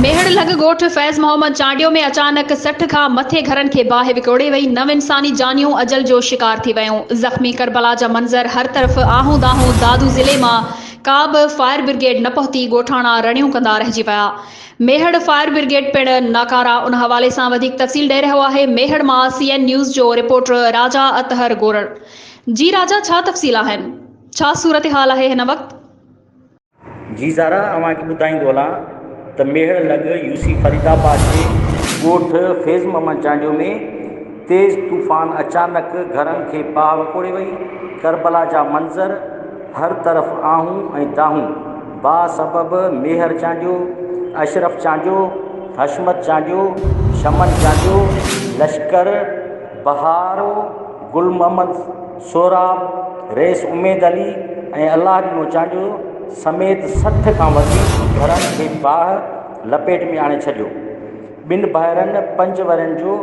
ميهڙ لڳ ڳوٺ فيض محمد چانڊيو ۾ اچانڪ سٺ کان مٿي گهرن کي باهه وڪوڙي وئي، نو انساني جانيون اجل جو شڪار ٿي ويون، زخمي ڪربلا جا منظر هر طرف آهون دانهون، دادو ضلعي مان ڪا به فائر برگيڊ نه پهتي، ڳوٺاڻا رڙيون ڪندا رهجي ويا، ميهڙ فائر برگيڊ پڻ ناڪاره، ان حوالي سان وڌيڪ تفصيل ڏئي رهيو آهي ميهڙ مان سي اين نيوز جو رپورٽر راجا اطهر گورڙ جي راجا ڇا تفصيل آهن ڇا صورتحال آهي هن وقت؟ جي زارا اوهان کي ٻڌائيندو هلان ته ميهڙ لڳ يو سي فريد آباد جي ڳوٺ فيض محمد چانڊيو ۾ تيز طوفان اچانڪ گهرن کي باهه وڪوڙي وئي ڪربلا جا منظر هر طرف آهون ۽ داهون باهه سبب ميهر چانڊيو اشرف چانڊيو حشمت چانڊيو شمن چانڊيو لشڪر بهارو گل محمد سهراب، رئيس اميد علي ۽ الله ڏنو چانڊيو سميت سٺ کان وڌيڪ گهرن کي باهه لپيٽ ۾ آڻي ڇڏيو. ٻن ڀائرن پنج ورهين جو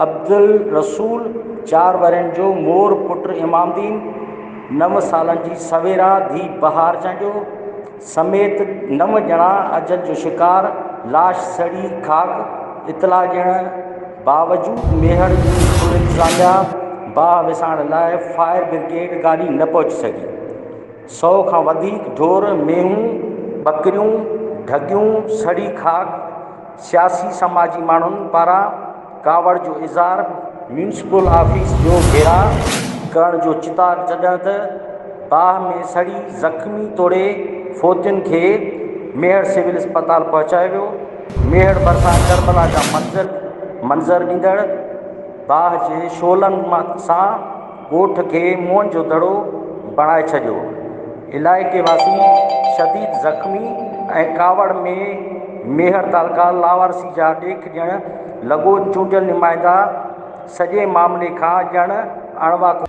عبدالرسول، چار ورهين جو مور پٽ امام دين، نو سالن جي سويرا ڌيء بهار چانڊيو، سميت نو ڄڻا اجل جو شڪار، لاش سڙي خاڪ، اطلاع ڏيڻ باوجود ميهڙ جي اسڪول انتظاميا باهه وسائڻ لاء فائر برگيڊ گاڏي نه پهچي سگهي، سئو کان وڌيڪ ڍور، مينهون، ٻڪريون، ڍڳيون سڙي خاڪ، سياسي سماجي ماڻهن پاران ڪاوڙ جو اظهار ميونسپل آفيس جو گهيراء ڪرڻ جو چتاء جڏهن ته باهه ۾ سڙي زخمي توڙي فوتين کي ميهڙ سول اسپتال پهچايو ويو ميهڙ ڀرسان ڪربلا جا منظر منظر ڏيندڙ باهه جي شعلن سان ڳوٺ کي موئن جو دڙو بڻائي ڇڏيو، علائقي واسي شديد زخمي ۽ ڪاوڙ ۾ ميهڙ تعلقه لاوارثي جا ڏيک ڏيڻ لڳو، چونڊيل نمائندا سڄي معاملي کان ڄڻ اڻواقف.